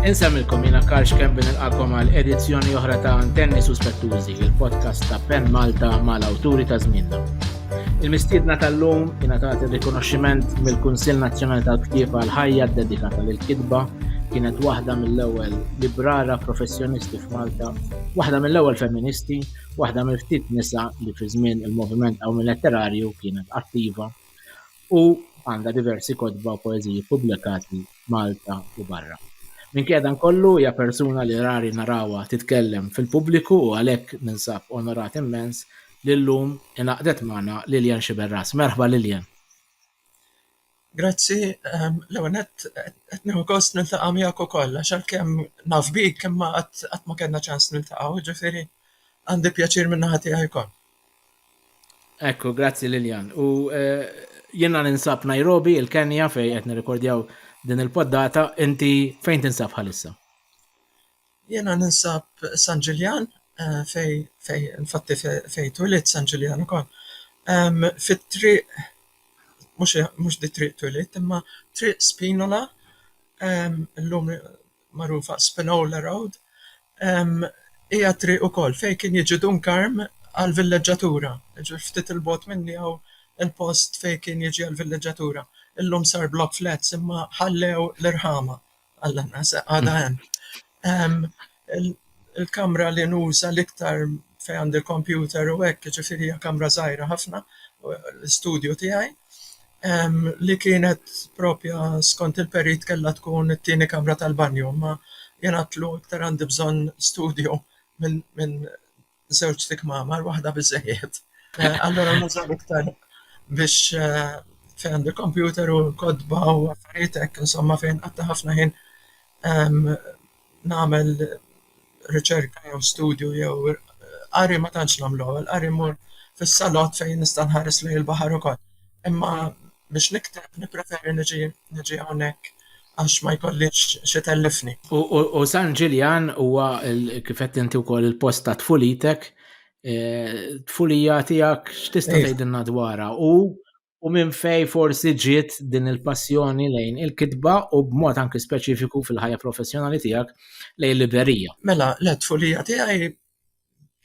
Insemmilkom jina Karx Kembi nilqakom għal edizzjoni oħra ta' Antenni Suspettużi, il-podcast ta' Pen Malta mal-awturi ta' żmienna. Il-mistiedna tal-lum jina ta' rikonoxximent mill-Kunsill Nazzjonali tal-Ktieb għal ħajja dedikata lil kitba kienet waħda mill-ewwel librara professjonisti f'Malta, waħda mill-ewwel feministi waħda mill-ftit nisa li fi żmien il-moviment qawmien letterarju kienet attiva u għandha diversi kotba u poeżiji ppubblikati Malta u barra. Minkejja dan kollu hija persuna li rari narawha titkellem fil-pubbliku u għalhekk ninsab onorat immens li llum ingħaqdet magħna Lillian Sciberras. Merħba Lillian! Grazzi, l-ewwel nett qed nieħu gost niltaqa' miegħek ukoll għax għalkemm naf bik imma qatt qatt ma kellna ċans niltaqgħu, jiġifieri għandi pjaċir min-naħa tiegħi wkoll. Ekku, grazzi Lillian. U jiena ninsab Nairobi, il-Kenja fejn qed nirrekordjaw din il-poddata, inti fejn tinsab bħalissa? Jiena ninsab San Ġiljan fejn fejn infatti fejn twilidt San Ġiljan ukoll. Fit-triq mhux mhux di triq twilidt imma triq Spinola illum magħrufa Spinola Road hija triq ukoll fejn kien jiġi Dun Karm għall-villeġġatura. Jiġifieri ftit 'il bogħod minni hawn il-post fejn kien jiġi għall-villeġġatura. Illum sar block flats imma ħallew l-irħama. Alla nasa għada hemm. Il-kamra li nuża l-iktar fejn għandi l-kompjuter u hekk, ġifieri hija kamra żgħira ħafna, l-istudju tiegħi, li kienet proprja skont il-perit kellha tkun it-tieni kamra tal-banju, imma jien għidtlu iktar għandi bżonn studju minn żewġ tikmamar, waħda biżżejjed. Allura nużaw iktar biex fejn għandi kompjuter u kodba u affarijiet hekk, insomma fejn qatta ħafna ħin nagħmel riċerka jew studju jew qari ma tantx nagħmlu, l-qari mmur fis-salott fejn nista' nħares lejn il-baħar ukoll. Imma biex nikteb nippreferi niġi hawnhekk għax ma jkollix x'itellifni. U San Ġiljan huwa kif qed inti wkoll il-post ta' tfulitek, eh, tfulija tiegħek x'tista' tgħidilna dwarha u u minn fej forsi ġiet din il-passjoni lejn il-kitba u b'mod anki speċifiku fil-ħajja professjonali tiegħek lejn liberija. Mela, l-tfulija tiegħi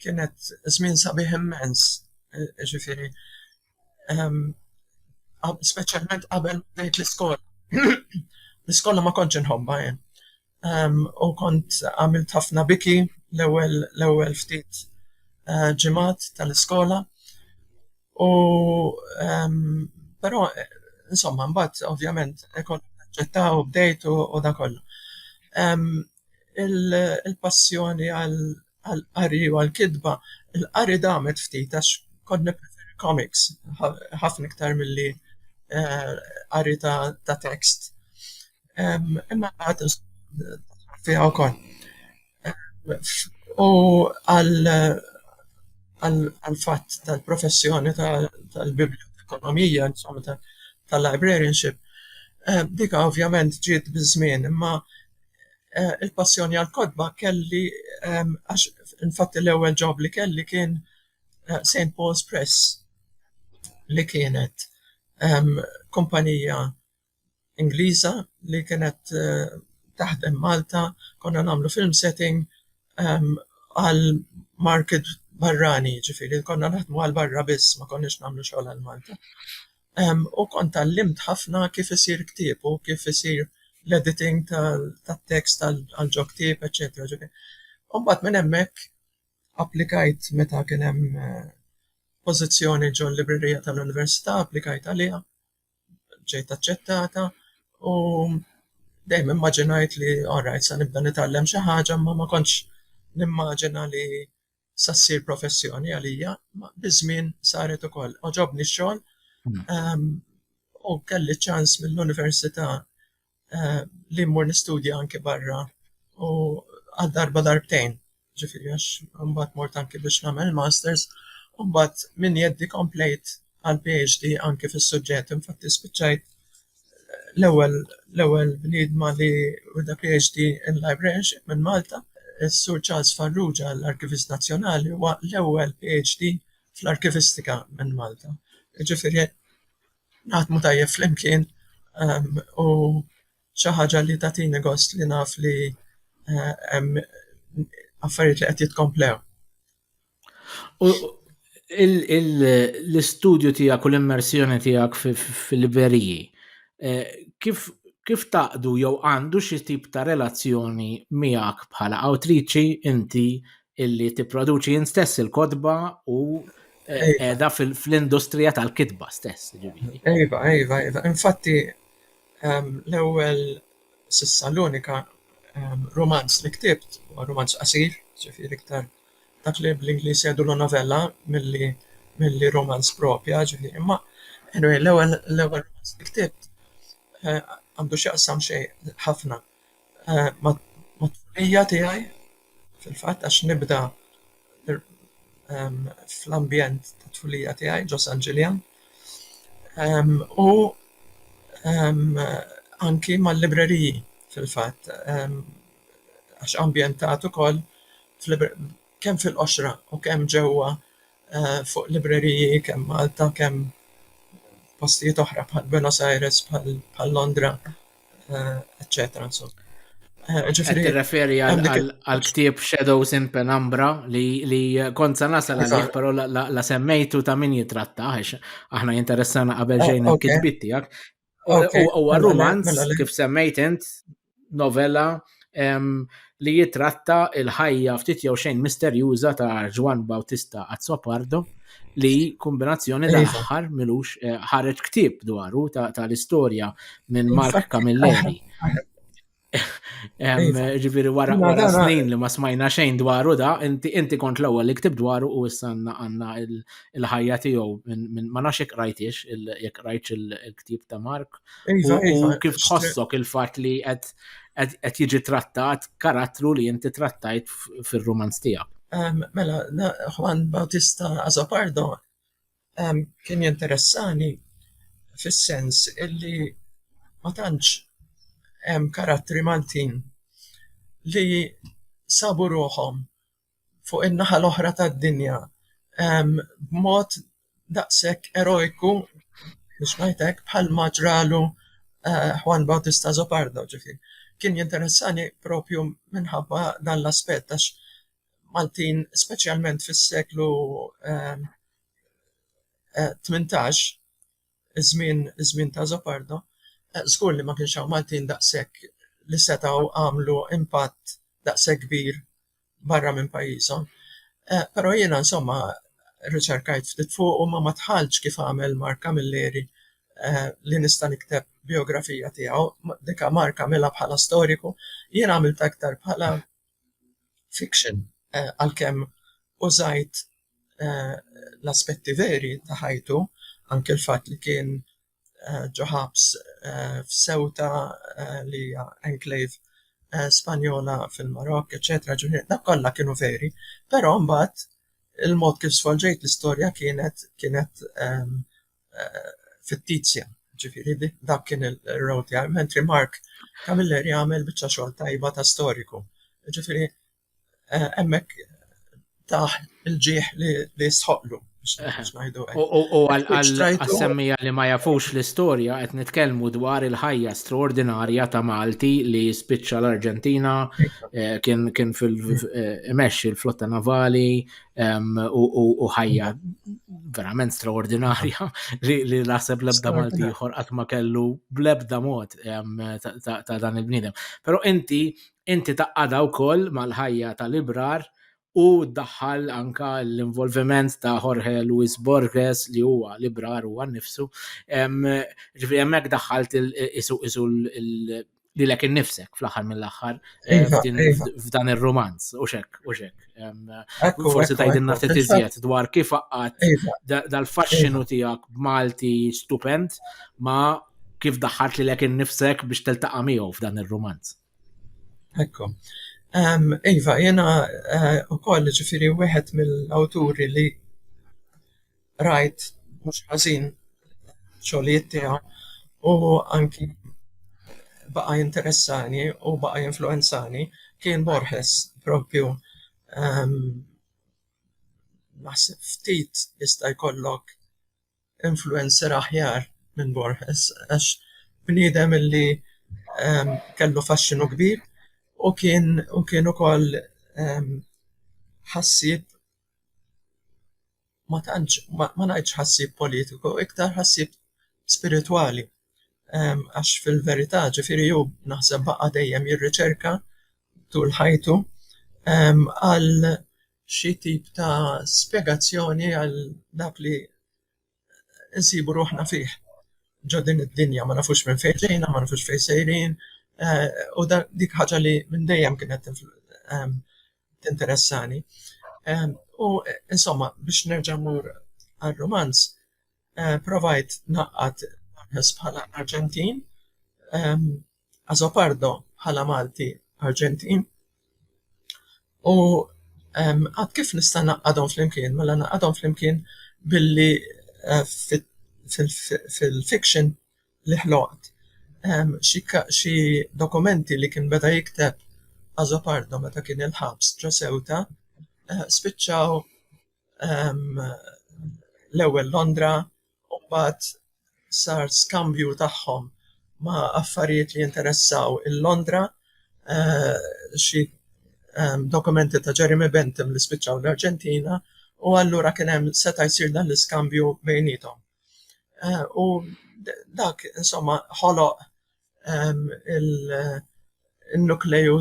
kienet żmien sabiħ immens, ġifieri speċjalment qabel bdejt l-iskola. L-iskola ma kontx inħobbha jien u kont għamilt ħafna biki l-ewwel l-ewwel ftit ġimgħat tal-iskola u però insomma mbagħad ovvjament ikollok taċċetta u bdejt u da kollu. il-passjoni għall-qari u għall-kitba, il-qari damet ftit għax kont nippreferi komiks ħafna iktar milli qari ta' tekst. Imma mbagħad dħalt fiha wkoll. U għall-fatt tal-professjoni tal-bibljotekonomija, tal-librarianship, dik ovvjament ġiet biż-żmien imma eh, il-passjoni għal kodba kelli ehm, għax infatti l-ewwel ġob li kelli kien eh, St. Paul's Press li kienet ehm, kumpanija Ingliża li kienet eh, taħdem Malta, konna nagħmlu film setting ehm, għal market barrani, ġifiri, konna naħdmu għal barra biss, ma konniex nagħmlu xogħol għal Malta. U kont tgħallimt ħafna kif isir ktieb u kif isir l-editing tat-tekst għal ġo ktieb eċċetera ġifi. U mbagħad minn hemmhekk applikajt meta kien hemm pożizzjoni ġol-librerija tal-università, applikajt għaliha, ġejt aċċettata u dejjem immaġinajt li alright se nibda nitgħallem xi ħaġa imma ma kontx nimmaġina li sa ssir professjoni għalija, biż-żmien saret ukoll. Oġobni x-xogħol hmm. ehm, u kelli ċans mill-università eh, li mmur nistudja anke barra u għal darba darbtejn, ġifieri għax mbagħad mort anke biex nagħmel masters, u mbagħad minn jeddi komplejt għall-PhD anki fis-suġġett. Infatti spiċċajt l-ewwel l-ewwel bniedma li wida PhD in librarianship minn Malta. Is-Sur Charles Farrugia, l-Arkivist Nazzjonali, huwa l-ewwel PhD fl-arkivistika minn Malta. Jiġifieri naħdmu tajjeb flimkien ehm, u xi ħaġa li tagħtini gost li naf li eh, hemm affarijiet li qed jitkomplew. L-istudju tiegħek u l-immersjoni tiegħek fil-libreriji, eh, kif kif taqdu jew għandu xi tip ta' relazzjoni miegħek bħala awtriċi inti illi tipproduċi int stess il-kodba u eh, qiegħda fl-industrija tal-kitba stess, ġifieri. Ejva, ejva, ejva. Infatti, ehm, l-ewwel S'issa l-unika rumanz li ktibt huwa rumanz qasir, ġifieri iktar dak li bl-Ingliż jgħidulu novella milli milli rumanz proprja, ġifieri, imma anyway l-ewwel l-ewwel rumanz li ktibt għandu x'jaqsam xejn ħafna ma' tfulija tiegħi fil-fatt għax nibda fl-ambjent tat-tfulija tiegħi ġo San Ġiljan u anki mal-libreriji fil-fatt għax ambjentat ukoll kemm fil-qoxra u kemm ġewwa fuq libreriji kemm Malta kemm postijiet oħra bħal Buenos Aires bħal Londra. eccetera, insomma. Eh, ġifiri. Referi għal-ktib Shadows in Penumbra li kont sa nasal għalih, pero la semmejtu ta' min jitratta, għax aħna jinteressana qabel eh, ġejn il-kitbit tijak. U għal-romanz, mela, mela, mela. kif semmejt int, novella, li jitratta il-ħajja ftit jew xejn misterjuża ta' Ġwan Bautista Azzopardo li kombinazzjoni iva. tal-aħħar milux eh, ħareġ ktib dwaru tal-istorja minn Mark Camilleri. Iva. Ġifiri wara wara snin li ma smajna xejn dwaru da, inti kont l-ewwel li ktib dwaru u issa għandna il-ħajja tiegħu minn ma nafx jekk rajtix jekk rajtx il-ktib ta' Mark. Iva, u iva, kif tħossok il-fatt li qed qed jiġi trattat karattru li inti trattajt fir-rumanz tiegħek. Mela, Juan Bautista Azopardo kien jinteressani fis-sens illi ma tantx hemm karattri Maltin li sabu ruħhom fuq in-naħa l-oħra tad-dinja b'mod daqshekk erojku biex ngħid hekk bħalma ġralu Juan Bautista Azopardo. Ġifieri, kien jinteressani propju minħabba dan l-aspett għax Maltin, speċjalment fis-seklu tmintax, iż-żmien iż-żmien ta' Azopardo, żgur li ma kienx hawn Maltin daqshekk li setgħu għamlu impatt daqshekk kbir barra minn pajjiżhom. Però jiena insomma rriċerkajt ftit fuq u ma ma dħaltx kif għamel Mark Camilleri li nista' nikteb bijografija tiegħu. Dik Mark għamilha bħala storiku, jien għamiltha iktar bħala fiction għalkemm użajt l-aspetti veri ta' ħajtu, anke l-fatt li kien ġo ħabs f'Ceuta li hija enclave Spanjola fil-Marokk eċċetera, ġifieri dak kollha kienu veri, però mbagħad il-mod kif żvolġejt l-istorja kienet kienet eh, fittizja. Ġifiri, dak kien il-row tiegħi, mentri Mark Camilleri jagħmel biċċa xogħol tajba ta' storiku. Ġifiri, eh, hemmhekk taħ il-ġieħ li jistħoqlu. U għal-semmija li ma jafux l-istoria, qed nitkellmu dwar il-ħajja straordinarja ta' Malti li spiċċa l-Arġentina, eh, kien fil-mex eh, il-flotta navali, u ħajja verament straordinarja li naħseb lebda Malti ieħor qatt ma kellu blebda mod ta' dan il-bniedem. Però inti inti taqqada wkoll mal-ħajja tal-ibrar u daħħal anka l-involviment ta' Jorge Luis Borges li huwa l-ibrar huwa nnifsu. Ġifieri hemmhekk daħħalt isu lilek innifsek fl-aħħar mill-aħħar eh, iva, iva. f'dan ir-romanz u xek u xek. Forsi tajdinna ftit iżjed dwar kif qaqqat iva. dal-faxxinu tiegħek b'Malti stupend ma kif daħħart lilek innifsek biex teltaqa' miegħu f'dan ir-romanz. Ekku. Iva, jena eh, u koll ġifiri wieħed mill-awturi li rajt mhux ħażin xogħlijiet tiegħu u anki baqa' jinteressani u baqa' jinfluwenzani kien Borges propju ehm, naħseb ftit jista' jkollok influencer aħjar minn Borges għax bniedem li kellu faxxinu kbir u kien u kien ukoll ħassieb. ma tantx ma ngħidx ħassib politiku iktar ħassib spiritwali għax fil-verità ġifieri hu naħseb baqa' dejjem jirriċerka tul ħajtu għal xi tip ta' spjegazzjoni għal dak li nsibu ruħna fih ġo din id-dinja, ma nafux minn fejn ġejna, ma nafux fejn sejrin u dik ħaġa li minn dejjem kienet tinteressani. Ehm, u insomma, biex nerġa' mur għal-romanz, eh, provajt naqqat Borges bħala Arġentin, ehm, Azopardo bħala Malti Arġentin. U ehm, għad kif nista' naqqadhom flimkien, mela naqqadhom flimkien billi eh, fil-fiction li ħloqt. Hemm xi xi dokumenti li kien beda jikteb Azopardo meta kien il-ħabs ġo Ceuta spiċċaw l-ewwel Londra u mbagħad sar skambju tagħhom ma' affarijiet li jinteressaw il-Londra, xi dokumenti ta' Jeremy Bentham li spiċċaw l-Arġentina u allura kien hemm seta' jsir dan l-iskambju bejniethom. U dak, insomma, ħoloq il-nukleju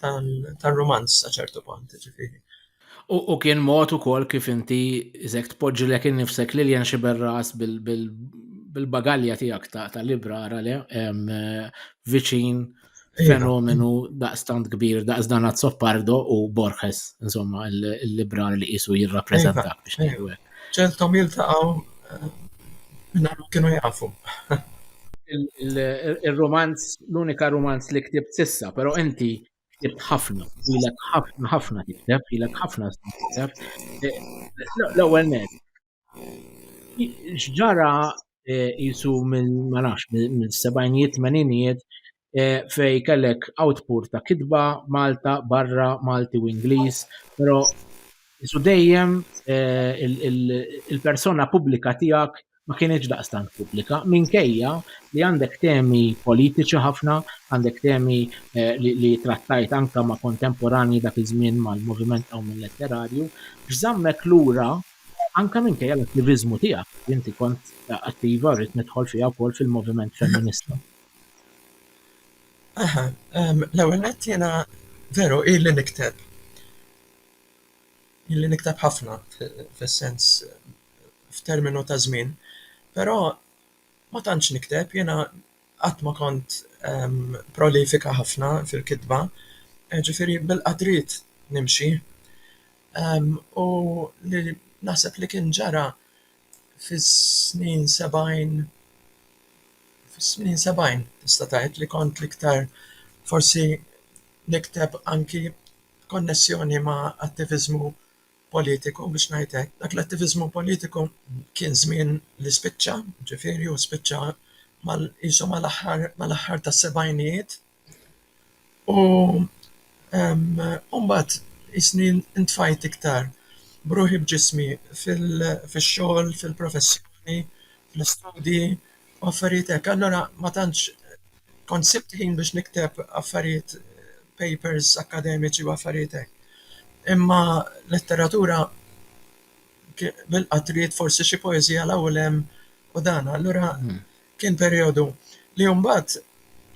tal-rumanz sa ċertu punt, ġifiri. U kien mod ukoll kif inti iżek tpoġġilek innifsek Lilian Xiberras bil-bagalja tiegħek ta' librara le viċin fenomenu daqstant kbir, daqs dan Azzopardo u Borges, insomma, il-librar li jisu jirrapprezenta biex nejdu għek. ċeltom jiltaqaw eh, minna kienu jafu. Il-romanz, l-unika romanz li ktib sissa, pero inti ktib ħafna, ilek ħafna ħafna tikteb, ilek ħafna tikteb. Eh, l-ewel net, X'ġara eh, jisu minn ma nafx minn sebajnijiet tmeninijiet eh, fej kellek output ta' kitba Malta barra Malti u Ingliż, però jisu dejjem eh, il-persona pubblika tiegħek ma kienieċ daqstant pubblika, minkejja li għandek temi politiċi ħafna, għandek temi eh, li trattajt anka ma' kontemporani dak iż-żmien mal-moviment għaw minn letterarju, x'żammek lura Anke minkejja l-attiviżmu tiegħek, li inti kont attiva, rrid nidħol fiha wkoll fil-moviment femminista. Aha, l-ewwel nett jiena veru ili nikteb, ili nikteb ħafna fis-sens, f'terminu ta' żmien, però ma tantx nikteb, jiena. qatt ma kont prolifika ħafna fil-kitba, ġifieri bilqgħa trid nimxi. U li naħseb li kien ġara fis-snin sebgħin, fis-snin sebgħin tista' tgħid li kont l-iktar forsi nikteb anki b'konnessjoni ma' attiviżmu politiku biex ngħid hekk. Dak l-attiviżmu politiku kien żmien li spiċċa, ġifieri u spiċċa mal qisu mal-aħħar mal-aħħar tas-sebgħinijiet. U mbagħad qisni ntfajt iktar b'ruħi b'ġismi fix-xogħol, fil-professjoni, fl-istudji u affarijiet hekk. Allura ma tantx kont sibt ħin biex nikteb affarijiet papers akkademiċi u affarijiet hekk. Imma letteratura bil-qatriet forsi xi poeżija l u lem u dan. Allura hmm. kien perjodu li mbagħad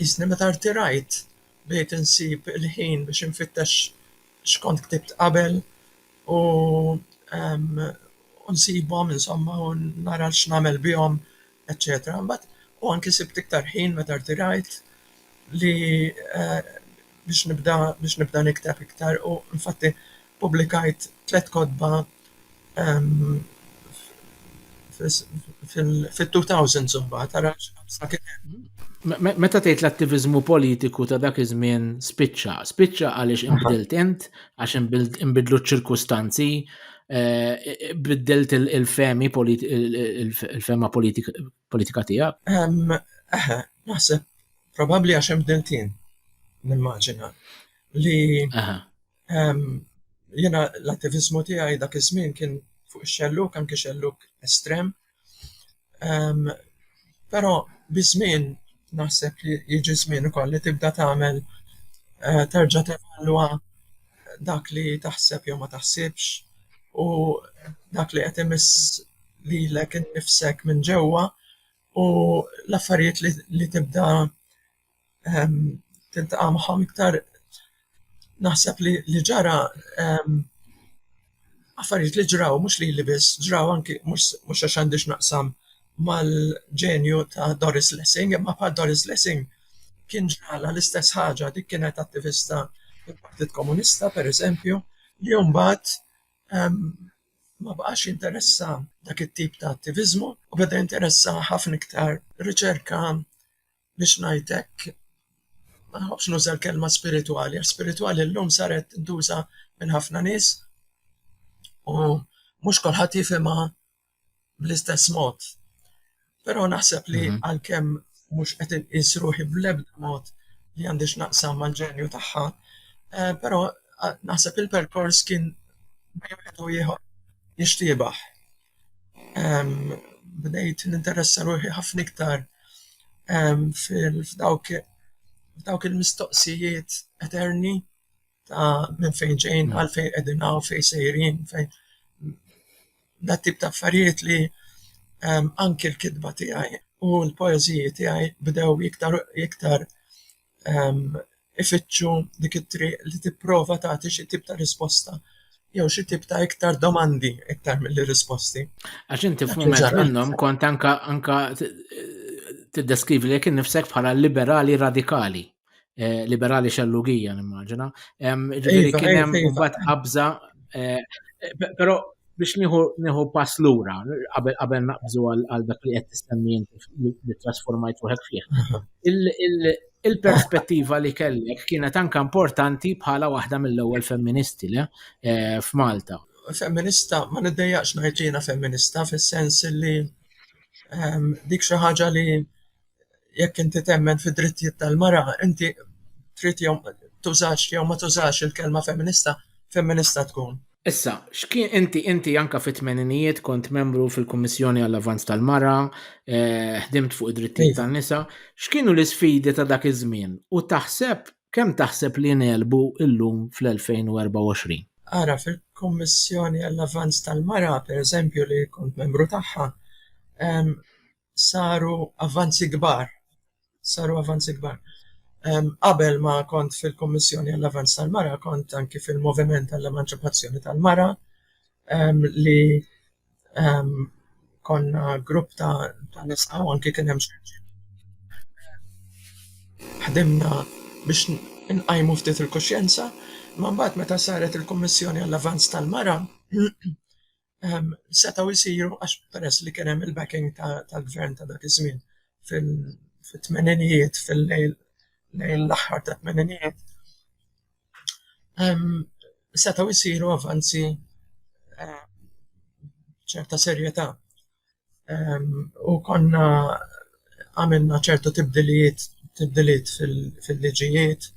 jisni meta rtirajt bdejt insib il-ħin biex infittex xkont ktibt qabel u nsibhom insomma u nara x'nagħmel bihom eċċetera imbagħad u anki sibt iktar ħin meta rtirajt li biex nibda biex nibda nikteb iktar u infatti ppubblikajt tliet kotba fit-two thousands imbagħad ara x'qabża kien hemm. Meta tgħid l-attiviżmu politiku ta' dak iż-żmien spiċċa, spiċċa għaliex inbdilt int, għax inbidlu ċ-ċirkustanzi, Biddelt il-femi, il-fema politika tijak? Eħe, naħseb, probabli għax hemm bdiltien, nimmaġina, li jiena l-attivizmu tiegħi dak iż-żmien kien fuq ix-xellug, anki xellug estrem, Però biż-żmien naħseb li jiġi żmien ukoll li tibda tagħmel terġa' tevalwa dak li taħseb jew ma taħsibx u dak li qed imiss lilek innifsek minn ġewwa u l-affarijiet li tibda tiltaqa' magħhom iktar naħseb li li ġara affarijiet li ġraw mhux lili biss, ġraw anki mhux mhux għax għandi x'naqsam mal-ġenju ta' Doris Lessing, imma bħal Doris Lessing kien ġralha l-istess ħaġa, dik kienet attivista fil-Partit Komunista, pereżempju, li mbagħad ma baqax jinteressha dak it-tip ta' attiviżmu u beda jinteressah ħafna iktar riċerka biex ngħid hekk, ma nħobbx nuża l-kelma spiritwali, għax spiritwali llum saret tintuża minn ħafna nies u mhux kulħadd jifhimha bl-istess mod. Però naħseb li mhm. għalkemm mhux qed inqis ruħi bl-ebda mod li għandix naqsam mal-ġenju tagħha, eh, però naħseb il-perkors kien bejn wieħed u ieħor jixtiebaħ. bdejt ninteressa ruħi ħafna iktar f'dawk il-mistoqsijiet eterni ta' minn fejn ġejjin, għalfejn qegħdin hawn, fejn sejrin, fejn... Dat tip ta' affarijiet li anki l-kitba tiegħi u l-poeżiji tiegħi bdew iktar u iktar ifittxu dik it-triq li tipprova tagħti xi tip ta' risposta jew xi tip ta' iktar domandi iktar mill risposti. Għax inti f'mument minnhom kont anka anka tiddeskrivi li kien nifsek bħala liberali radikali. Eh, liberali xellugija, nimmaġina. Ġifieri iva, kien hemm imbagħad qabża eh, però Biex nieħu pass lura, qabel naqbżu għal dak li qed tistenni inti li trasformajt ruħek fih. Il-perspettiva li kellek kienet anke importanti bħala waħda mill-ewwel femministi le eh, f'Malta. Femminista, ma niddejjaqx ngħid li jiena femminista fis-sens li ehm, dik xi ħaġa li jekk inti temmen fid-drittijiet tal-mara, inti trid jew tużax jew ma tużax il-kelma femminista, femminista tkun. Issa, x'kien inti inti anke fit-tmeninijiet kont membru fil-Kummissjoni għall-Avvanz tal-Mara, ħdimt fuq id-drittijiet tan-nisa, x'kienu l-isfidi ta' dak iż-żmien u taħseb kemm taħseb li ngħelbu llum fl-2024? Ara, fil-Kummissjoni għall-Avvanz tal-Mara, pereżempju, li kont membru tagħha, saru avvanzi kbar, saru avvanzi kbar. Qabel ma kont fil-Kummissjoni għall-Avanz tal-Mara kont anki fil-Moviment għall-Emanċipazzjoni tal-Mara li konna grupp ta' nisa u anki kien hemm ħdimna biex inqajmu ftit il-kuxjenza, imma mbagħad meta saret il-Kummissjoni għall-Avanz tal-Mara ehm, setgħu jsiru għax peress li kien hemm il-backing tal-gvern ta' dak iż-żmien fit-tmeninijiet fil-lejl lejn l-aħħar ta' tmeninijiet ehm, setgħu jsiru avanzi ehm, ċerta serjetà u konna għamilna ċertu tibdiliet tibdiliet fil-liġijiet,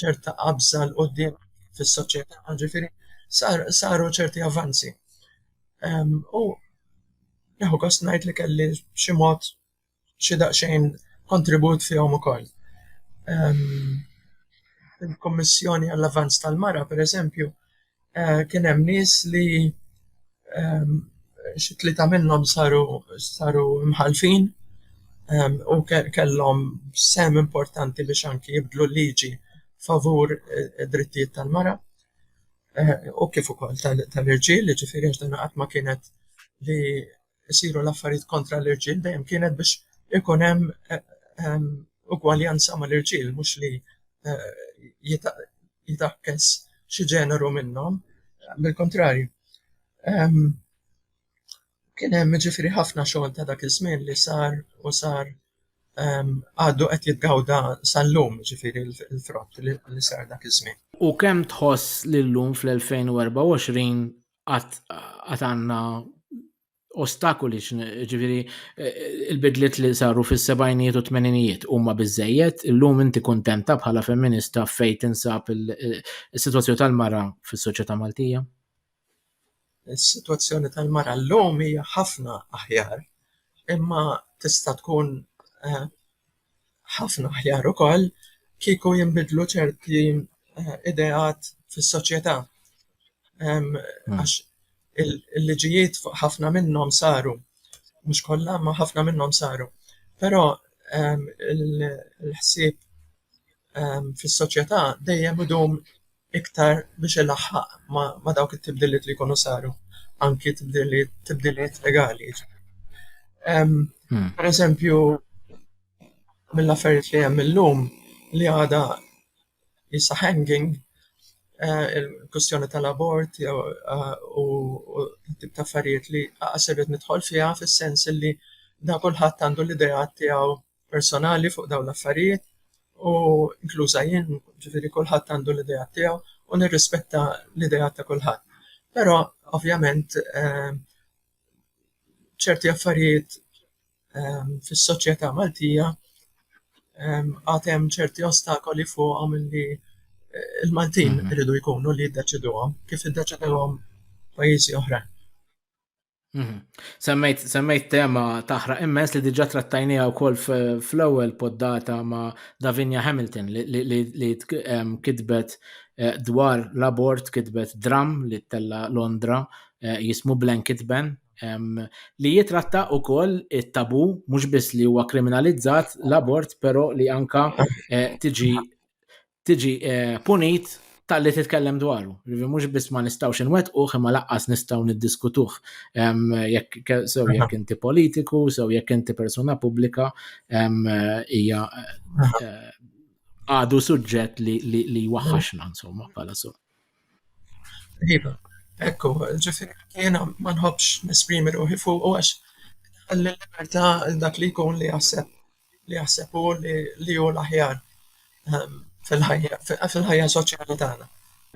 ċerta qabża l qudiem fis-soċjetà, ġifieri saru ċerti avvanzi. U neħu gost ngħid li kelli b'xi mod xi daqsxejn kontribut fihom ukoll. Fil-Kummissjoni għall-Avvanz tal-Mara, pereżempju, kien hemm nies li xi tlieta minnhom saru saru mħallfin u kellhom sehem importanti biex anki jibdlu l-liġi favur id-drittijiet tal-mara u kif ukoll tal-irġiel, jiġifieri għax dinha qatt ma kienet li isiru l-affarijiet kontra l-irġiel dejjem kienet biex ikun hemm eh, ehm, ugwaljanza mal-irġiel mhux li eh, jitakkes xi ġeneru minnhom, bil-kontrarju. Ehm, kien hemm ġifiri ħafna xogħol ta' dak iż-żmien li sar u sar ehm, għaddu qed jitgawda sal-lum ġifiri l-frott li sar dak iż-żmien. U kemm tħoss li llum fl-2024 għat għanna ostakoli ġifiri eh, il-bidliet li saru fis-sebajnijiet u tmeninijiet huma biżejjed, illum inti kuntenta bħala femminista fej tinsab il-sitwazzjoni tal-mara fis-soċjetà Maltija? Is-sitwazzjoni tal-mara llum hija ħafna aħjar, imma tista' tkun eh, ħafna aħjar ukoll kieku jinbidlu ċerti eh, ideat fis-soċjetà. Hmm. Għax il-liġijiet fuq ħafna minnhom saru, mhux kollha ma ħafna minnhom saru. Però il-ħsieb fis-soċjetà dejjem idum iktar biex ilaħħaq ma' dawk it-tibdiliet li jkunu saru, anki tibdiliet legali. Ehm, hmm. Per eżempju, mill-affarijiet li hemm illum li għada jissa hanging, eh, il-kustjoni tal-abort eh, u tip ta' affarijiet li għasibet nidħol fiha fis-sens li da kulħadd għandu l-idea tiegħu personali fuq dawn l-affarijiet u inkluża jien, ġifieri kulħadd għandu l-ideat tiegħu u nirrispetta l-ideat ta' kulħadd. Però ovvjament ehm, ċerti affarijiet ehm, fis-soċjetà Maltija ehm, għad hemm ċerti ostakoli fuqhom li eh, il-Maltin mhm. iridu jkunu li jiddeċiduhom kif iddeċiduhom pajjiżi oħrajn. Mhm. Semmejt, semmejt tema taħraq immens li diġa trattajnija wkoll fl-ewwel poddata ma' Davinia Hamilton li kitbet eh, dwar l-abort kitbet dram li tella Londra eh, jismu Blanket Ban li jitratta wkoll it-tabu mhux biss li huwa kriminalizzat l-abort però li anka eh, tiġi tiġi eh, punit tal-li titkellem dwaru. Rivi mhux biss ma nistgħux inwettquh imma laqqas nistgħu niddiskutuh jekk sew jekk inti politiku, sew jekk inti persuna pubblika hija eh, għadu suġġett li jwaħħaxna insomma bħala so. Iva, hekk hu, ġifieri jiena ma nħobbx nesprimi ruħi fuqu għax iħalli l-libertà għal dak li jkun li jaħseb li jaħseb hu li li hu l-aħjar ehm, fil-ħajja fil-ħajja soċjali tagħna.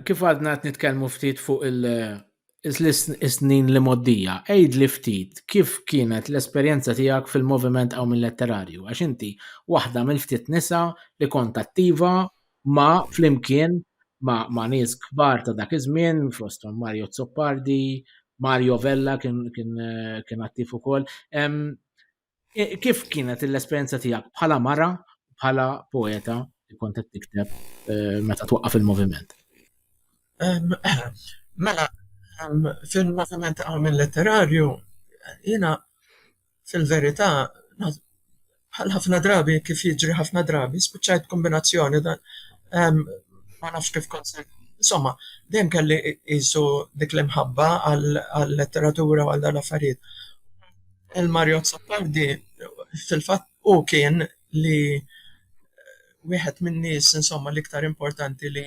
Kif għadna qed nitkellmu ftit fuq il- is-snin li mgħoddija, għidli ftit kif kienet l-esperjenza tiegħek fil-moviment Qawmien Letterarju għax inti waħda mill-ftit nisa li kont attiva ma' flimkien ma' nies kbar ta' dak iż-żmien fosthom Mario Azzopardi, Mario Vella kien attiv ukoll. E, kif kienet l-esperjenza tiegħek bħala mara, bħala poeta li kont qed tikteb e, meta twaqqaf il-moviment? Mela, fil-moviment għamil letterarju, jina fil-verità, bħal ħafna drabi, kif jiġri ħafna drabi, spiċċajt kombinazzjoni dan. Ma nafx kif konser. Insomma, dejjem kelli jisu dik l-imħabba għal-letteratura u għal dan affarijiet. Il-Mario Azzopardi fil-fatt hu kien li wieħed min-nies insomma l-iktar importanti li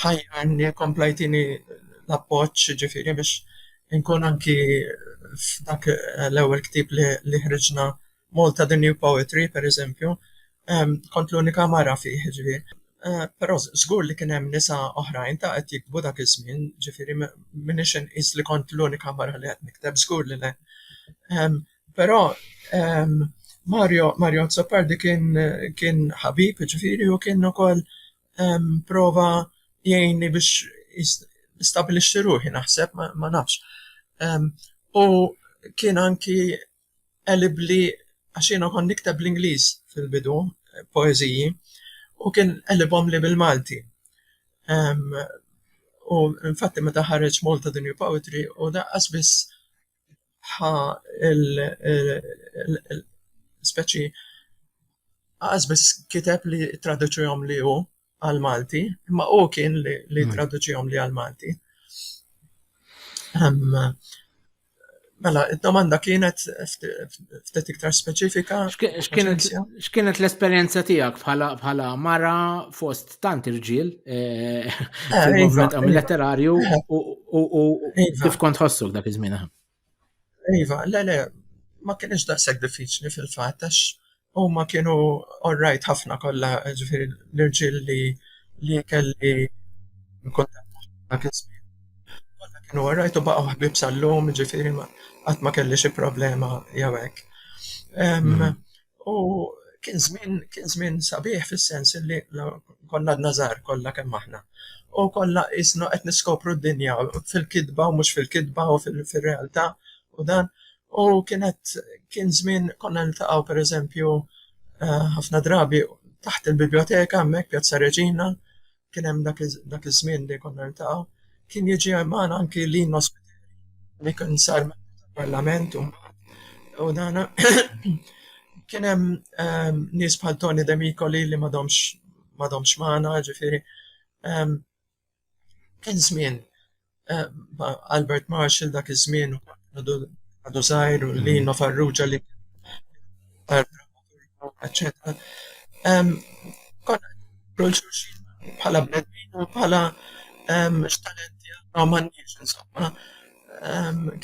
ħajjarni kompla jtini l-appoġġ ġifieri biex inkun anki f'dak l-ewwel ktieb li ħriġna Malta the new poetry, per eżempju, kont l-unika mara fih, jiġifieri. Però żgur li kien hemm nisa oħrajn ta' qed jiktbu dak iż-żmien, jiġifieri m'iniex inqis li kont l-unika mara li qed nikteb, żgur li le. Però Mario, Mario Azzopardi kien kien ħabib, jiġifieri, u kien ukoll prova jgħinni biex is- nistabilixxi ruħi, naħseb, ma nafx. U kien anki elibbli għax jiena kont nikteb bl-Ingliż fil-bidu, poeżiji, u kien qelibhomli bil-Malti. U infatti meta ħareġ Malta The New Poetry hu daqqas biss ħa l-speċi, daqqas biss kiteb li ttraduċihomli hu. għal Malti, imma u kien li, li mm. traduċihom li għal Malti. Um, mela, id-domanda kienet ftit iktar speċifika. X'kienet l-esperjenza tiegħek bħala bħala mara fost tant irġiel eh, eh, fil-movement iva, iva. letterarju eh. u kif kont ħossok dak iż-żmien? Iva, le, le, ma kienx daqshekk diffiċli fil-fatt għax huma kienu orrajt ħafna kollha, ġifieri l-irġiel li li kelli kuntatt magħhom dak iż-żmien. Kollha kienu orrajt u baqgħu ħbieb sal-lum, ġifieri ma qatt ma kelli xi problema jew hekk. Em, U kien żmien kien żmien sabiħ fis-sens li konna għadna żgħar kollha kemm aħna. U kollha qisna qed niskopru d-dinja fil-kitba u mhux fil-kitba u fir-realtà u dan. U kienet kien żmien konna niltaqgħu pereżempju eh, ħafna drabi taħt il-biblioteka hemmhekk Pjazza Reġina kien hemm dak iż-żmien li konna niltaqgħu, kien jiġi magħna anki Lino Spiteri, li kien sar parlament u u dana kien hemm ehm, nies bħal Tony Demikoli li m'għadhomx m'għadhomx magħna, ġifieri ehm, kien żmien eh, ma' Albert Marshall dak iż-żmien għadu żgħir u li mm. Farrugia li eccetera. Konna kull xulxin bħala bnedmin u bħala x'talenti għandhom għandix insomma.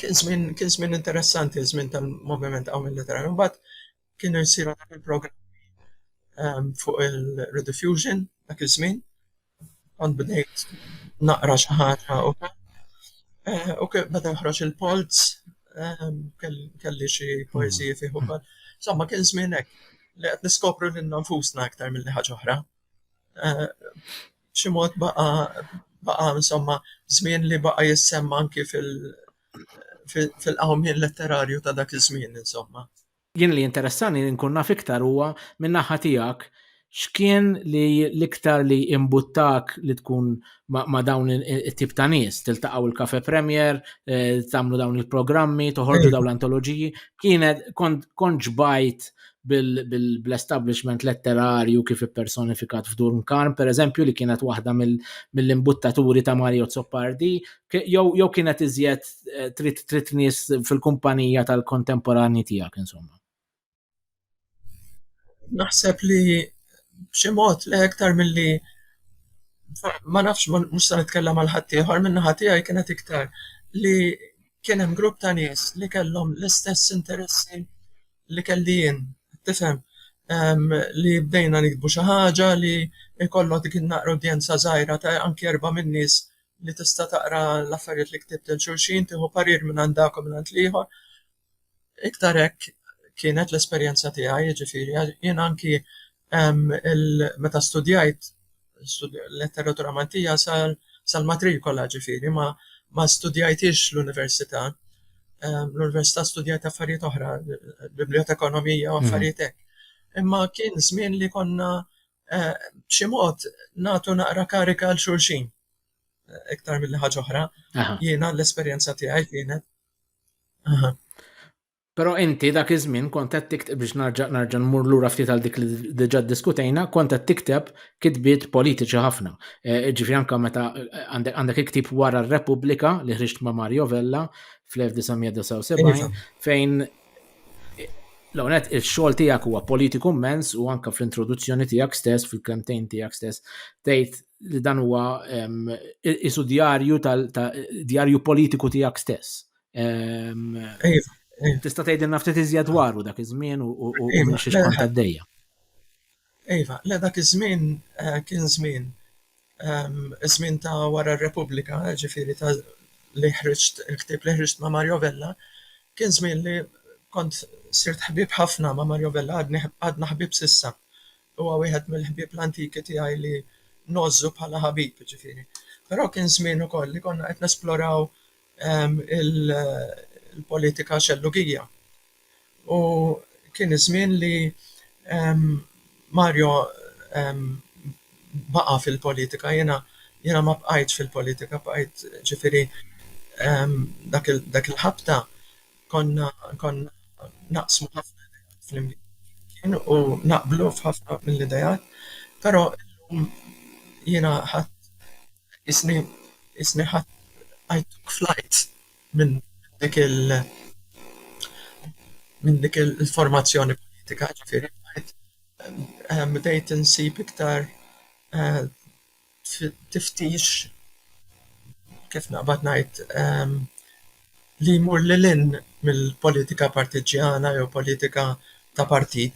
Kien żmien interessanti żmien tal-moviment għaw mill-literarju. Mbagħad kienu jsiru dak il-programmi fuq il-rediffusion dak iż-żmien Kont bdejt naqra xi ħaġa u eh, u kif beda joħroġ il-polz, eh, kell- kelli xi poeżiji fih ukoll. Insomma, kien żmien hekk li qed niskopru lil nfusna aktar milli ħaġa oħra. Eh, B'xi mod baqa baqa insomma żmien li baqa jissemma anki fil- fil- fil-qawmien letterarju ta' dak iż-żmien insomma. Jien li jinteressani li nkun naf iktar huwa minn naħa tiegħek x'kien li l-iktar li imbuttak li tkun ma' dawn it-tip ta' nies, tiltaqgħu l-Cafe Premier, tagħmlu dawn il-programmi, toħorġu dawn l-antoloġiji, kienet kont ġbajt bl-establishment letterarju kif ippersonifikat f'Durn Karm, pereżempju li kienet waħda mill-imbuttaturi ta' Mario Azzopardi, jew kienet iżjed eh, trid trid nies fil-kumpanija tal-kontemporanji tiegħek insomma. Naħseb li b'xi mod li iktar milli ma nafx mhux se nitkellem għal ħadd ieħor minn naħa tiegħi kienet iktar li kien hemm grupp ta' nies li kellhom l-istess interessi li kelli jien, tifhem? li bdejna nikbu xi ħaġa li jkollok dik naqra udjenza żgħira ta' anki erba' min-nies li tista' taqra l-affarijiet li ktibt lil xulxin, tieħu parir mingħand dak u mingħand l-ieħor. Iktar hekk kienet l-esperjenza tiegħi, jiġifieri jien anki meta studjajt letteratura Maltija sal-matrikola, ġifieri ma ma studjajthiex l-università. L-università studjajt affarijiet oħra, bibliotekonomija u affarijiet hekk. Imma kien żmien li konna b'xi mod nagħtu naqra karika għal xulxin. Iktar mill ħaġa oħra, jiena l-esperjenza tiegħi kienet. Però inti dak iż-żmien kont qed tikteb biex narġa' narġa' nmur lura ftit għal dik li diġà diskutejna, kont qed tikteb kitbiet politiċi ħafna. E, ġifieri anke meta għandek iktib wara r-Repubblika li ħriġt ma' Mario Vella fl-1979 iva. fejn L-ewwel nett ix-xogħol tiegħek huwa politiku mmens u anke fl-introduzzjoni tiegħek stess, fil-kemmtejn tiegħek stess, tgħid li dan huwa isu djarju tal-djarju politiku tiegħek stess. Tista' tgħidilna ftit iżjed dwaru dak iż-żmien u minn xi xkont għaddejja. Iva, le dak iż-żmien kien żmien, iż-żmien ta' wara r-Repubblika, jiġifieri ta' li ħriġt il-ktieb li ħriġt ma' Mario Vella, kien żmien li kont sirt ħbieb ħafna ma' Mario Vella, għadni ħb- għadna ħbieb s'issa. Huwa wieħed mill-ħbieb l-antiki tiegħi li ngħożżu bħala ħabib, jiġifieri. Però kien żmien ukoll li konna qed nesploraw il-politika xellugija. U kien iż-żmien li Mario baqa' fil-politika. Jiena, jiena ma bqajtx fil-politika, bqajt, ġifieri, dak il, dak il-ħabta konna, konna naqsmu ħafna ideat flimkien u naqblu f'ħafna mill-ideat, però illum jiena ħadt, qisni, qisni ħadt, I took flight. minn dik il-formazzjoni politika, ġifieri bdajt bdejt insib iktar tiftix kif naqbad ngħid li jmur lil hinn mill-politika partiġġjana jew politika ta' partit.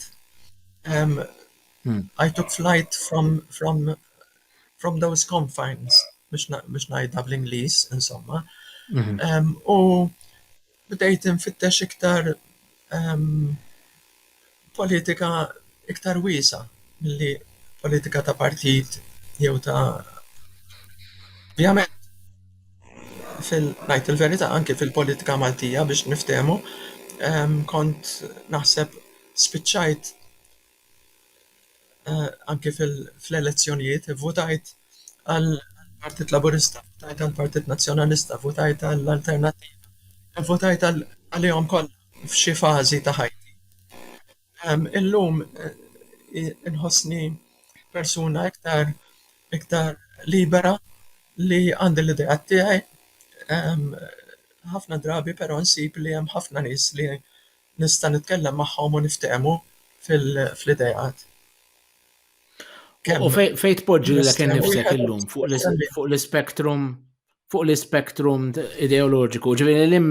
I took flight from from from those confines, biex najda bl-Inglis, insomma. Mhm. U bdejt nfittex iktar politika iktar wisa milli politika ta' partit jew ta' Ovvjament, fil-najt il-verita, anki fil-politika Maltija biex niftemu, kont naħseb spiċċajt anke fl-elezzjonijiet, ivvutajt għall-Partit Laburista, ivvutajt għall-Partit Nazzjonalista, ivvutajt għall-Alternattiva, ivvutajt għalihom kollha f'xi fażi ta' ħajti. Illum inħossni persuna iktar iktar libera li għandi l-ideat tiegħi, ħafna drabi però nsib li hemm ħafna nies li nista' nitkellem magħhom u niftehmu fl-ideat. U fejn tpoġġi lilek innifsek illum fuq l-ispektrum fuq l-ispektrum ideoloġiku, ġifieri lil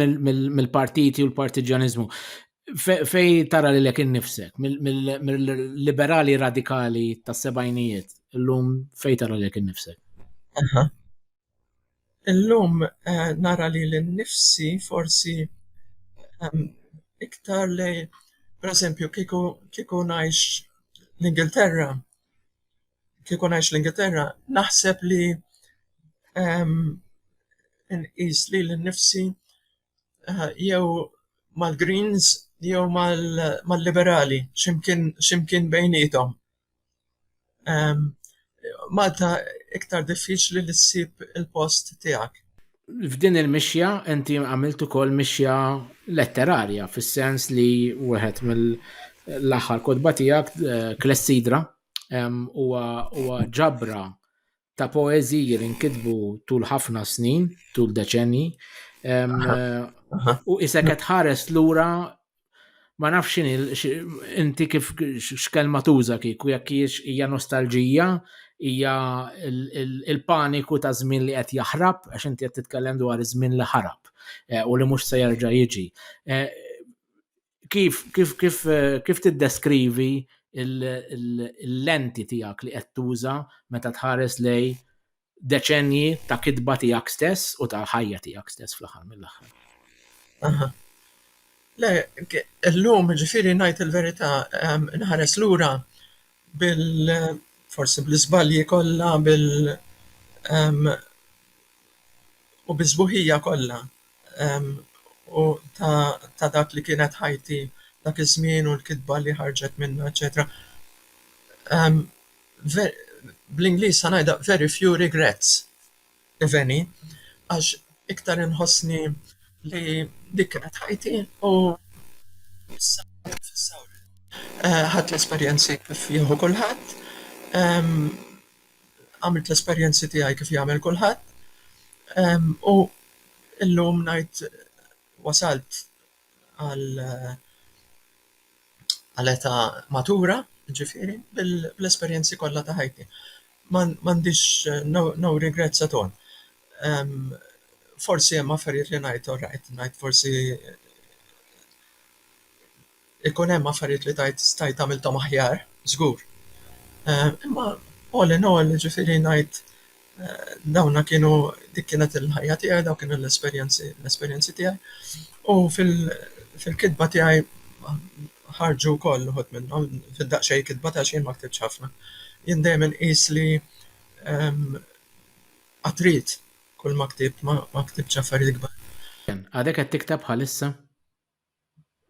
mill-partiti u l-partiġjaniżmu, fejn tara lilek innifsek mill-liberali radikali tas-sebgħinijiet illum fejn tara lilek innifsek? Illum nara lili nnifsi forsi iktar li pereżempju kieku kieku ngħix l-Ingilterra, kieku ngħix l-Ingilterra naħseb li nqis lili nnifsi eh, jew mal-Greens jew mal-Liberali, ximkien bejnietom. Ehm, Malta iktar diffiċli li ssib il-post tiegħek. F'din il-mixja inti għamilt ukoll mixja letterarja fis-sens li wieħed mill-aħħar kodba tiegħek eh, Klessidra ehm, huwa ġabra ta' poeżiji li nkitbu tul ħafna snin, tul deċenji, u isek qed ħares lura ma nafx inti kif x'kelma tuża kieku jekk hija nostalġija, hija il-paniku ta' żmien li qed jaħrab għax inti qed titkellem dwar iż-żmien li ħarab eh, u li mhux se jerġa' jiġi. Eh, kif, kif, kif, kif tiddeskrivi l-lenti tiegħek li qed tuża meta tħares lej deċenji ta' kitba tiegħek stess u ta' ħajja tiegħek stess fl-aħħar mill-aħħar. Le, llum ġifieri ngħid il-verità nħares lura bil forsi bl-iżbalji kollha bil u bis-sbuħija kollha u ta ta' dak li kienet ħajti dak iż-żmien u l-kitba li ħarġet minnha eċċetera ve bl-Ingliż ħa ngħidha very few regrets. iveni għax iktar inħossni li dik kienet ħajti u issa qed nfissha wril. Ħadt l-esperjenzi kif jieħu kulħadd, għamilt l-esperjenzi tiegħi kif jagħmel kulħadd u illum ngħid wasalt. għal għal età matura, jiġifieri, bl-esperjenzi kollha ta' ħajti. Ma m'għandix no regrets at all. Forsi hemm affarijiet li ngħid orajt, ngħid forsi ikun hemm affarijiet li tgħid stajt għamilthom aħjar, żgur. Imma all in all, jiġifieri ngħid Dawna kienu, dik kienet il-ħajja tiegħi, dawk kienu l-esperjenzi, l-esperjenzi tiegħi. U fil-kitba tiegħi ħarġu wkoll uħud minnhom, fid-daqsxejn kitba għax jien ma ktibtx ħafna. Jien dejjem inqis li qatt rid kulma ktibt, ma ktibtx affarijiet kbar. Għadek qed tikteb bħalissa?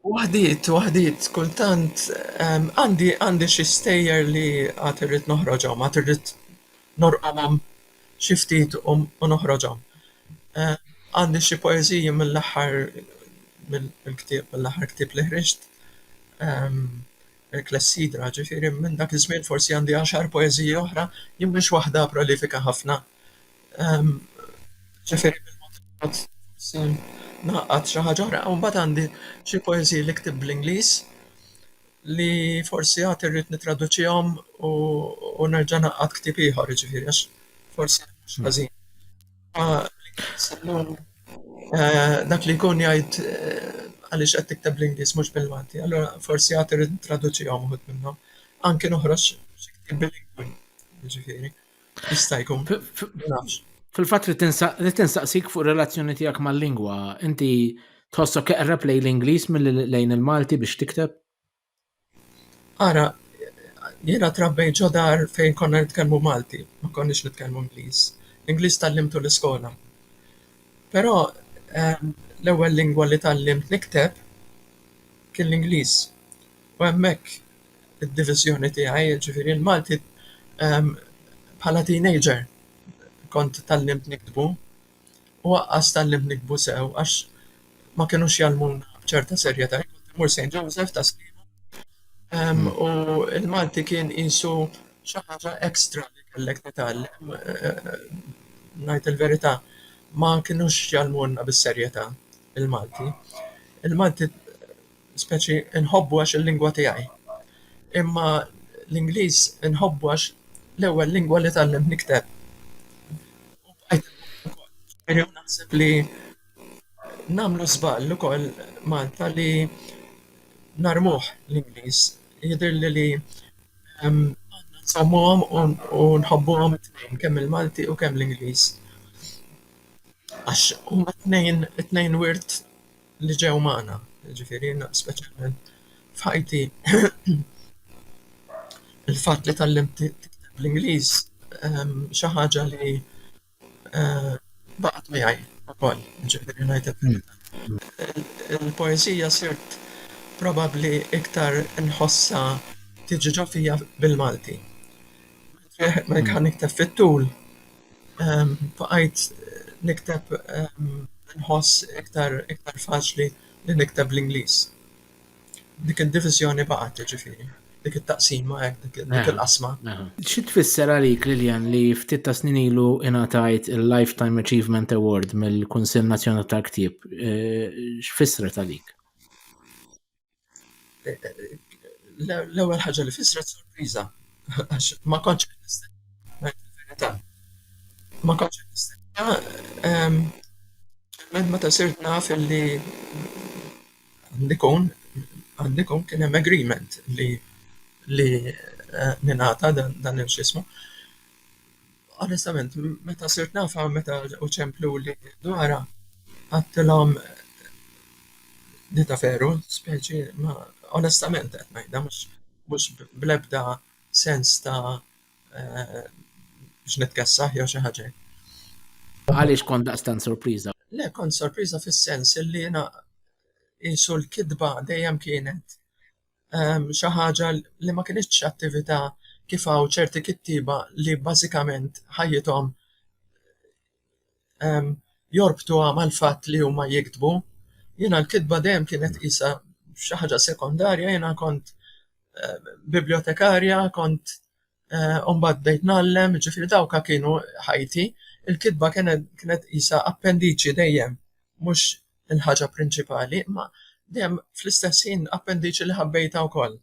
Waħdiet, waħdiet, kultant ehm, għandi għandi xi stejjer li għad irrid noħroġhom, għad irrid norqomhom xi ftit u u noħroġhom. Eh, għandi xi poeżiji mill-aħħar mill mill-ktieb mill-aħħar ktieb li ħriġt, ehm, il-Klessidra, ġifieri minn dak iż-żmien forsi għandi għaxar poeżiji oħra, jien mhix waħda prolifika ħafna, Ġifieri bil-mod il-mod forsi ngħaqqad xi ħaġa oħra. U mbagħad għandi xi poeżiji li ktibt bl-Ingliż li forsi għad irrid nittraduċihom u nerġa' ngħaqqad ktieb ieħor, jiġifieri għax forsi mhux ħażin. Dak li jkun jgħid għaliex qed tikteb bl-Ingliż mhux bil-Malti, allura forsi għad irrid nittraduċihom uħud minnhom. Anki noħroġ xi ktieb bil-lingwi, jiġifieri. Jista' jkun. Fil-fatt li tinsaqsik fuq relazzjoni tiegħek mal-lingwa, inti tħossok eqreb lejn l-Ingliż mill lejn il-Malti biex tikteb? Ara, jiena trabbejt ġo dar fejn konna nitkellmu Malti, ma konniex nitkellmu Ingliż. L-Ingliż tgħallimtu l-iskola. Però ehm, l-ewwel lingwa li tgħallimt nikteb kien l-Ingliż. U hemmhekk id-diviżjoni tiegħi, jiġifieri l-Malti, bħala teenager kont tgħallimt niktbu u aqqas tgħallimt niktbu sew għax ma kinux jgħallmuna b'ċerta serjetà. Jien kont immur Saint Joseph ta' Sliema u l-Malti kien qisu xi ħaġa extra li kellek titgħallem. Ngħid il-verità, ma kinux jgħallmulna bis-serjetà l-Malti. Il-Malti speċi nħobbu għax il-lingwa tiegħi. Imma l-Ingliż inħobbu għax l-ewwel lingwa li tgħallimt nikteb. U bqajt inħobbu wkoll. Ġifieri u naħseb li nagħmlu żball ukoll Malta li narmuh l-Ingliż. Jidhirli li għandna nżommuhom u nħobbuhom it-tnejn, kemm il-Malti u kemm l-Ingliż. Għax huma t-tnejn it-tnejn wirt li ġew magħna, jiġifieri jiena speċjalment f'ħajti il-fatt li tgħallimt tikteb bl-Ingliż xi ħaġa li baqgħet miegħi wkoll, jiġifieri ngħid hekk. Il-poeżija sirt probabbli iktar inħossha tiġi ġo fija bil-Malti. Wieħed ma jkun nikteb fit-tul, baqajt nikteb nħoss iktar iktar faċli li nikteb bl-Ingliż. Dik id-diviżjoni baqgħet jiġifieri, dik it-taqsima hekk, dik il-qasma. Xi tfisser għalik, Lilian, li ftit ta' snin ilu ingħatajt il-Lifetime Achievement Award mill-Kunsill Nazzjonali tal-Ktieb? X'fissret għalik? L-ewwel ħaġa li fissret sorpriża għax ma kontx qed nistenna verità. Ma kontx qed nistenna minn meta sirt naf li għandikun għandikun kien hemm agreement li li ningħata dan il-x'ismu. Onestament, meta sirt nafha, meta ġew iċempluli dwarha, għedtilhom li ta' veru, speċi, ma onestament qed ngħidha, mhux bl-ebda sens ta' biex nitkessaħ jew xi ħaġa hekk. Għaliex kont daqstant sorpriża? Le, kont sorpriża fis-sens li jiena qisu l-kidba dejjem kienet xi ħaġa li ma kinitx attività kif hawn ċerti kittieba li bażikament ħajjithom jorbtuha mal-fatt li huma jiktbu. Jiena l-kitba dejjem kienet qisha xi ħaġa sekondarja, jiena kont bibljotekarja, kont eh, u mbagħad bdejt nallem, ġifieri dawka kienu ħajti, il-kitba kienet kienet isa appendiċi dejjem, mhux il-ħaġa prinċipali, imma dejjem fl-istess ħin appendiċi li ħabbejta wkoll.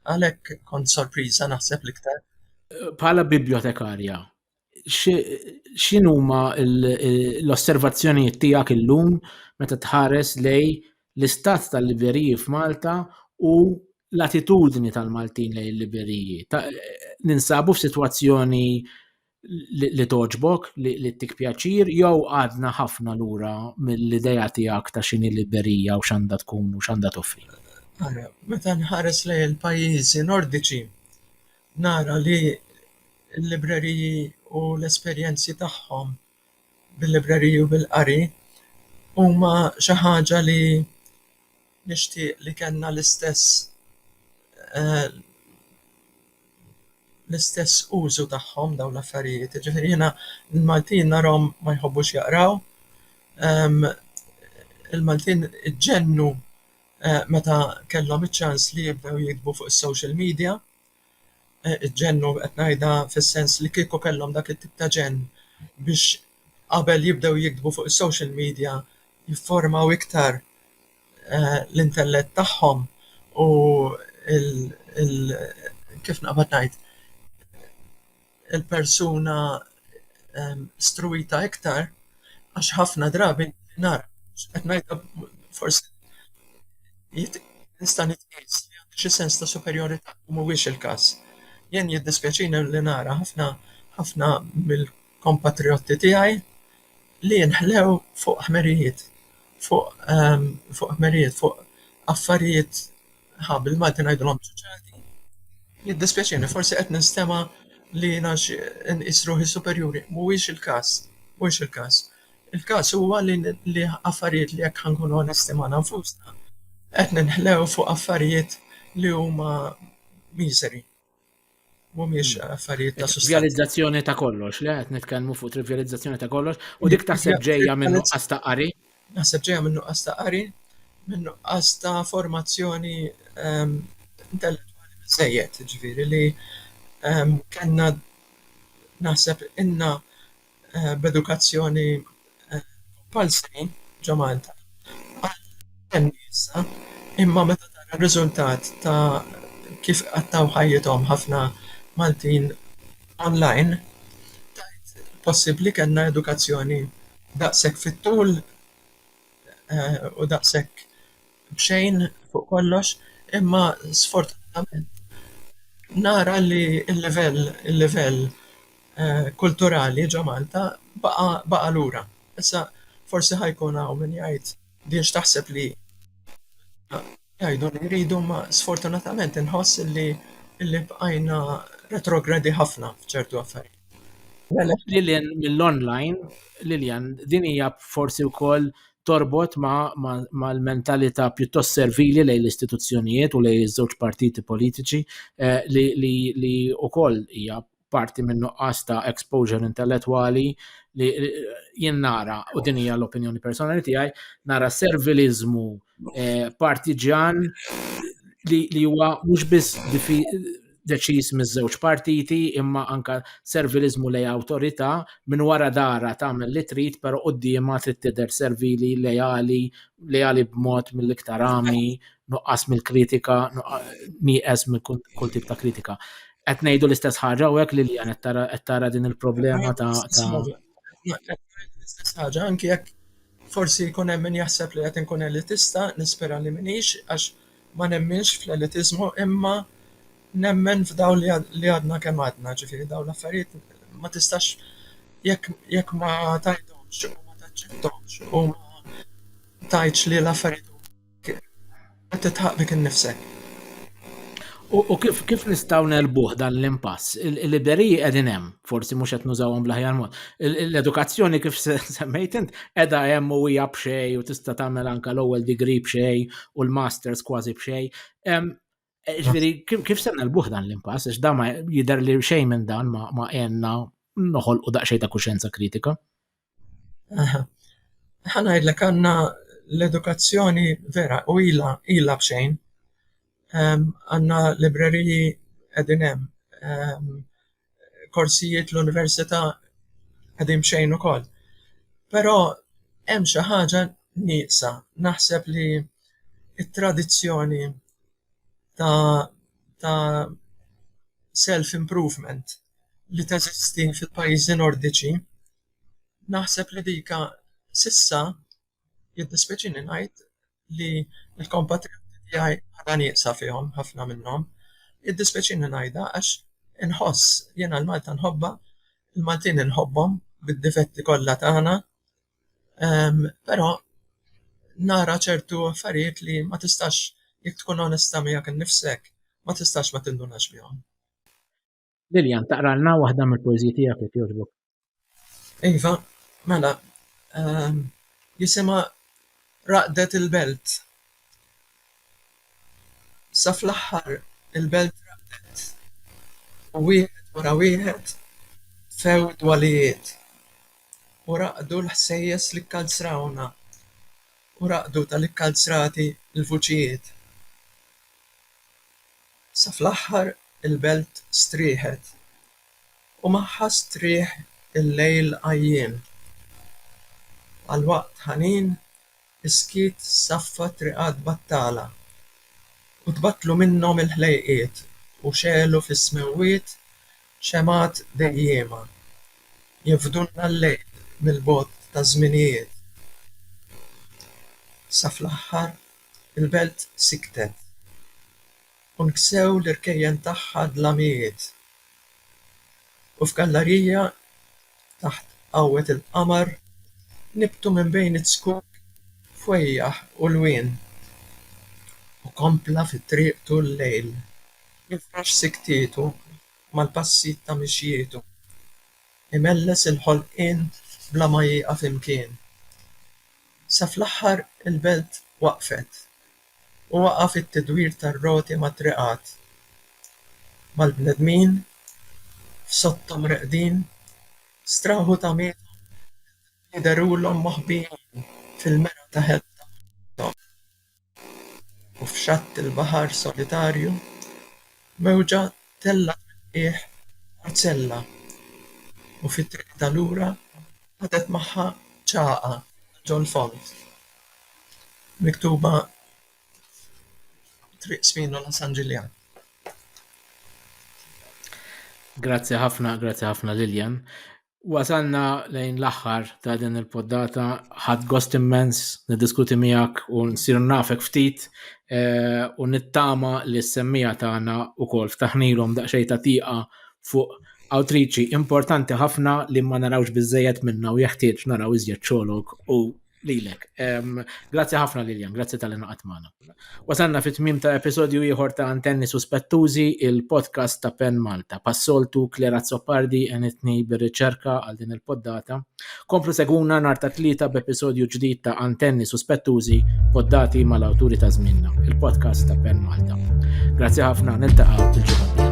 Għalhekk kont sorpriża naħseb l-iktar. Bħala bibliotekarja, x'inhuma l-osservazzjonijiet tiegħek illum meta tħares lej l-istat tal-libreriji f'Malta u l-attitudni tal-Maltin lejn il-libreriji. Ninsabu f'sitwazzjoni li toġbok, li tik pjaċir, jew għadna ħafna lura mill-ideja tiegħek ta' xini librerija u x'għandha tkun u x'għandha toffri. Meta nħares lejn il-pajjiżi Nordiċi, nara li l-libreriji u l-esperjenzi tagħhom bil-libreriji u bil-qari huma xi ħaġa li nixtieq li kellna l-istess l-istess użu tagħhom dawn l-affarijiet. Jiġifieri jiena l-Maltin narahom ma jħobbux jaqraw, il-Maltin iġennu meta kellhom iċ-ċans li jibdew jiktbu fuq is-social media, iġġennu, qed ngħidha fis-sens li kieku kellhom dak it-tip ta' ġenn biex qabel jibdew jiktbu fuq is-social media jifformaw iktar l-intellett tagħhom u l-, kif naqbad ngħid? il-persuna struwita iktar għax ħafna drabi nara, qed ngħidha forsi nista' nitqies li għandi xi sens ta' superjorità u mhuwiex il-każ. Jien jiddispjaċini li nara ħafna ħafna mill-kompatrijotti tiegħi li jinħlew fuq ħmerijiet, fuq ħmerijiet, fuq affarijiet Aha, bil-Malti ngħidulhom ċuċati. Jiddispjaċini, forsi qed ninstema' li nafx inqis ruħi superjuri. Mhuwiex il-każ. Mhuwiex il-każ. Il-każ huwa li li affarijiet li jekk ħa nkunu onesti magħna nfusna, qed ninħlew fuq affarijiet li huma miżeri. mhumiex affarijiet ta' sustanza. Trivializzazzjoni ta' kollox, le qed nitkellmu fuq trivializzazzjoni ta' kollox u dik taħseb ġejja minn nuqqas ta' qari. Naħseb ġejja minn nuqqas ta' qari, minn nuqqas ta' formazzjoni ehm, intellettwali biżejjed, ġifieri li ehm, kellna naħseb inna b'edukazzjoni compulsory ġo Malta għadha ttenni issa imma meta tara r-riżultat ta' kif iqattgħu ħajjithom ħafna Maltin online tgħid possibbli kellna edukazzjoni daqshekk fit-tul u daqshekk b'xejn fuq kollox imma sfortunatament nara li l-livell il-livell kulturali ġo Malta baqa' baqa' lura. Issa forsi ħa jkun hawn min jgħid biex taħseb li jgħidu li jridu imma sfortunatament inħoss illi illi bqajna retrogradi ħafna f'ċertu affarijiet. Lil hinn mill-online, Lilian, din hija forsi wkoll torbot mal-mentalità pjuttost servili lejn l-istituzzjonijiet u lejn iż-żewġ partiti politiċi eh, li wkoll hija parti minn nuqqas ta' exposure intellettwali li jien nara u din hija l-opinjoni personali tiegħi nara serviliżmu eh, partiġan li huwa mhux biss deċiż miż-żewġ partiti imma anka serviliżmu lej awtorità minn wara dara tagħmel li trid però quddiema trid tidher servili leali leali b'mod mill-iktar għami nuqqas mill-kritika, nieqes minn kull tip ta' kritika. Qed ngħidu l-istess ħaġa u hekk li li qed tara din il-problema ta' l-istess ħaġa anki jekk forsi jkun hemm min jaħseb li qed inkun elitista, nispera li minix għax ma nemminx fl-elitizmu imma nemmen f'daw li għadna kemm għadna, ġifieri daw l-affarijiet ma tistax jekk ma tajthomx u ma taċċetthomx u ma tgħidx li l-affarijiet Qed titħaq bik innifsek. U kif kif nistgħu nelbuh dan l-impass? Il-libreriji qegħdin hemm, forsi mhux qed nużawhom bl-aħjar mod. L-edukazzjoni kif semmejt int qiegħda hemm u hija b'xej u tista' tagħmel anke l-ewwel degree b'xej u l-masters kważi b'xej. Eh, ġviri, kif se nelbuħ dan l-impass, għax dan ma jider li xejn minn dan ma għenna noħol u daqxej ta' kuxenza kritika? ħana jidlek għanna l-edukazzjoni vera u ila, ila bxejn. Għanna libreriji edinem, korsijiet l-università qegħdin b'xejn ukoll. Però hemm xi ħaġa nieqsa. Naħseb li t-tradizzjoni ta' ta' self-improvement li teżisti fil-pajjiżi Nordiċi, naħseb li dika s'issa Jiddispeċini ngħid li l-kompatrioti tiegħi għadha nieqsa fihom ħafna minnhom. Jiddispeċini ngħidha għax inħoss, jiena l-Malta nħobbha, il-Maltin inħobbhom bid-difetti kollha tagħna, però nara ċertu affarijiet li ma tistax, jekk tkun onesta miegħek innifsek, ma tistax ma tindunax bihom. Lillian, taqralna waħda mill-poeżiji tiegħek jekk jogħġbok. Iva, mela, ehm, jisimha Raqdet il-Belt. Sa fl-aħħar il-belt raqdet u wieħed wara wieħed tfew dwalijiet u raqdu l-ħsejjes li kkalzrawna u raqdu tal-ikkalzrati l-vuċijiet. Sa fl-aħħar il-belt strieħet u magħha strieħ il-lejl għajjien. Għal waqt ħanin is-skiet saffa triqat battala u tbattlu minnhom il-ħlejqiet u xegħlu fis-smewwiet xemgħat dejjiema, jevdulna l-lejl mill-bogħod taż-żminijiet. Sa fl-aħħar Il-belt siktet. U nksew l-irkejjen tagħha d-dlamijiet. U f'gallarija taħt qawwet il-qamar nibtu minn bejn iz-zkuk fwejjaħ u lwien. U kompla fi triqtu l-lejl, jifrax siktietu mal-passijiet ta' mixjietu, imelles il-ħolqien bla ma jieqaf imkien. Sa fl-aħħar il-belt waqfet u waqaf it-tidwir tar-roti mat-triqat, mal-bnedmin f'sotthom reqdin, straħu tagħmilhom li derulhom moħbijin fil-mera ta' ħelwthom. u f'xatt il-baħar solitarju, mewġa tellgħet mill-qiegħ parzella u fi triqitha lura ħadet magħha ċagħqa ta' John Font miktuba Triq Spinola San Ġiljan. Grazzi ħafna, grazzi ħafna Lillian. Wasalna lejn l-aħħar ta' din il-poddata, ħadd gost immens niddiskuti miegħek u nsir nafek ftit eh, u nittama li s-semmija tagħna wkoll ftaħnilhom daqsxejn ta' tieqa fuq awtriċi importanti ħafna li ma narawx biżejjed minna u jeħtieġ naraw iżjed xogħolok u lilek. Grazzi ħafna Liljan, grazzi tal inqat magħna. Wasanna fit tmim ta' episodju ieħor ta' Antenni Suspettużi, il-podcast ta' Pen Malta. Passoltu Klera Zoppardi enitni bir-riċerka għal din il-poddata. Komplu seguna nhar ta' tlieta b'episodju ġdid ta' Antenni Suspettużi, poddati mal-awturi ta' żminna, il-podcast ta' Pen Malta. Grazzi ħafna, niltaqgħu il-ġimgħa.